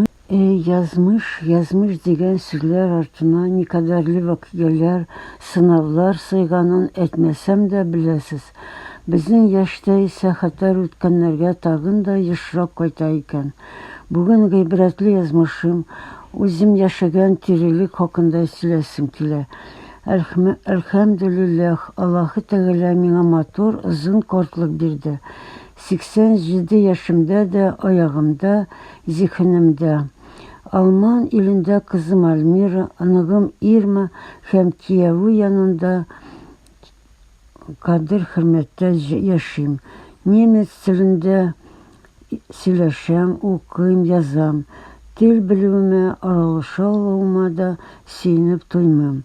Әй, язмыш, язмыш дигән сүзләр артына никадәрле вакыйгаләр, сынавлар сыйганын әйтмәсәм дә беләсез. Безнең яшьтә исә хәтәр үткәннәргә тагын да ешрак кайта икән. Бүген гыйбрәтле язмышым, үзем яшәгән тирелек хакында сөйләсем килә. Әлхмә, әлхәмдүлилләх, Аллаһы Тәгалә миңа матур, озын картлык бирде. 87 яшемдә дә, аягымда, зиһенемдә. Алман илендә кызым Альмира, оныгым Ирма һәм кияве янында кадер-хөрмәттә яшим. Немец телендә сөйләшәм, укыйм, язам. Тел белүемә, аралаша алуыма да сөенеп туймыйм.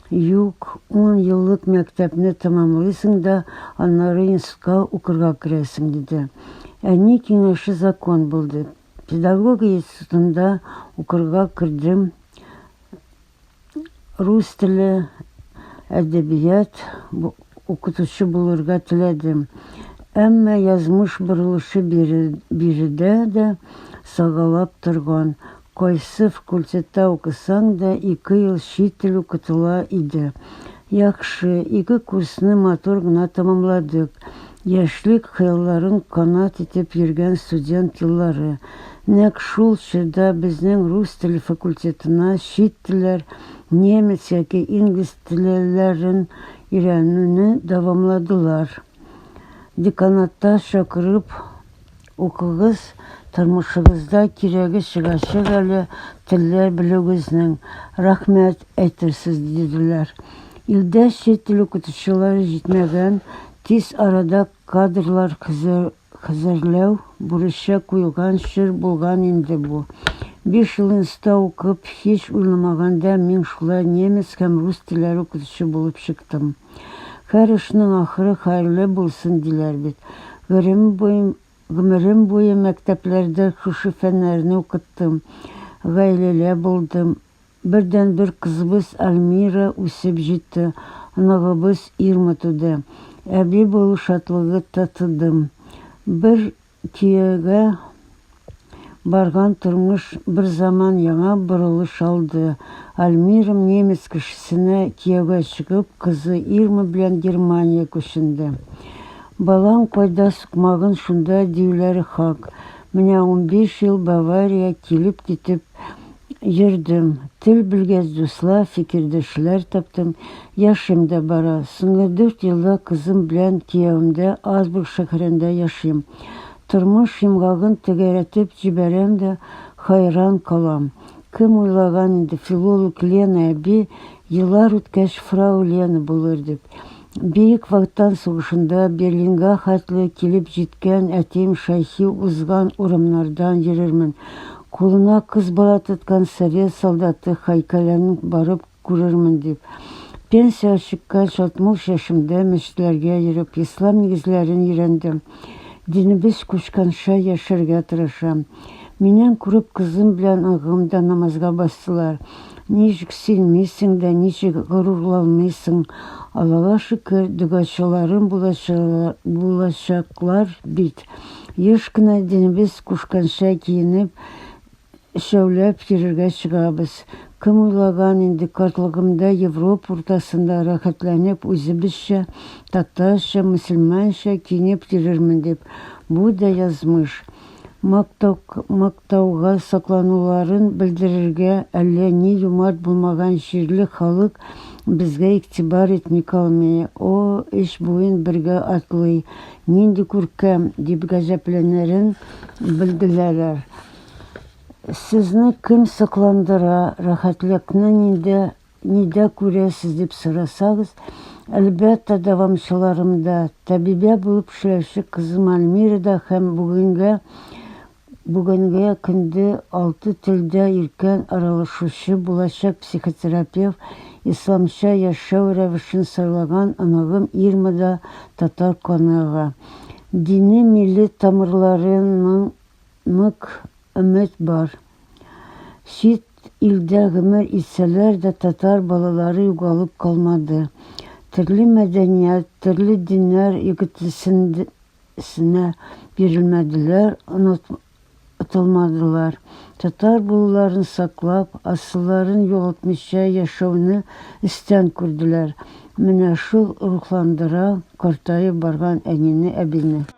Юк, ун еллык мәктәпне тәмамлыйсың да, аннары институтка укырга керәсең, диде. Әни киңәше закон булды. Педагогия институтында укырга кердем. Рус теле, әдәбият укытучы булырга теләдем. Әмма язмыш борылышы биредә дә сагалап торган. Кайсы фкультетта укысаң да ике ел чит тел укытыла иде. Яхшы, ике курсны матур гына тәмамладык. Яшьлек хыялларын канат итеп йөргән студент еллары. Нәкъ шул чорда безнең рус теле факультетына чит телләр, немец яки инглиз телеләрен өйрәнүне дәвамладылар. Деканатта чакырып Укыгыз, тормышыгызда кирәге чыгачак әле телләр белүегезнең, рәхмәт әйтерсез, диделәр. Илдә чит тел укытучылары җитмәгән, тиз арада кадрлар хәзерләү бурычы куелган чор булган инде бу. Биш ел инстта укып, һич уйламаганда мин шулай немец һәм рус телләре укытучы булып чыктым. Хәр эшнең ахыры хәерле булсын, диләр бит. Гырем буем, гомерем буе мәктәпләрдә шушы фәннәрне укыттым. Гаиләлә булдым. Бердәнбер кызыбыз Альмира үсеп җитте, оныгыбыз Ирма туды. Әби булу шатлыгы татыдым. Бер Төягә барган тормыш берзаман яңа борылыш алды. Альмирам немец кешесенә кияүгә чыгып, кызы Ирма белән Германия күченде. Балаң кайда сукмагын шунда диюләре хак. Менә унбиш ел Бавария килеп-китеп Йөрдем, тел белгәз дуслар, фикердәшләр таптым. Яшем дә бара. Соңгы дүрт елда кызым белән киявемдә Азбург шәһәрендә яшим. Тормыш йомгагын тәгәрәтеп җибәрәм дә хайран калам. Кем уйлаган инде филолог Лена әби еллар үткәч фрау Лена булыр дип. Бөек Ватан сугышында Берлинга хәтле килеп җиткән әтием Шәйхи узган урамнардан йөрермен, кулына кыз бала тоткан совет солдаты һәйкәлен барып күрермен дип, пенсиягә чыккан шатмуш яшемдә мәчетләргә йөреп, ислам нигезләрен өйрәндем. Динебез кушканча яшәргә тырышам. Миннән күреп, кызым белән агым да намазга бастылар. Ничек синмисең дә, ничек горурланмыйсың? Аллага шөкер, догачыларым булачаклар бит. Еш кына динебез кушканча киенеп, өчәүләп йөрергә чыгабыз. Кем уйлаган инде, картлыгымда Европа уртасында рәхәтләнеп үзебезчә, татарча, мөселманча киенеп йөрермен дип. Бу да язмыш. мактауга соклануларын белдерергә әллә ни юмарт булмаган җирле халык безгә игътибар итми калмый, о, өч буын бергә атлый, нинди күркәм! дип гаҗәпләнерен белделәләр. Сезне кем сокландыра, рәхәтлекне нинди Нидә күрәсез дип сорасагыз, әлбәттә, дәвамчыларымда, тәбибә булып эшләүче кызым Альмирада һәм бүгенгә бүгенге көндә алты телдә иркен аралашучы булачак психотерапевт, исламча яшәү рәвешен сайлаган оныгым Ирмада татар каныга. Дини милли тамырларының нык өмет бар. Чит Илдә гомер итсәләр дә, татар балалары югалып калмады. Төрле мәдәният, төрле диннәр игетлесенә бирелмәделәр, онытылмадылар. Татар булуларын саклап, асылларын югалтмыйча яшәүне эстән күрделәр. Менә шул рухландыра картаеп барган әнине, әбине.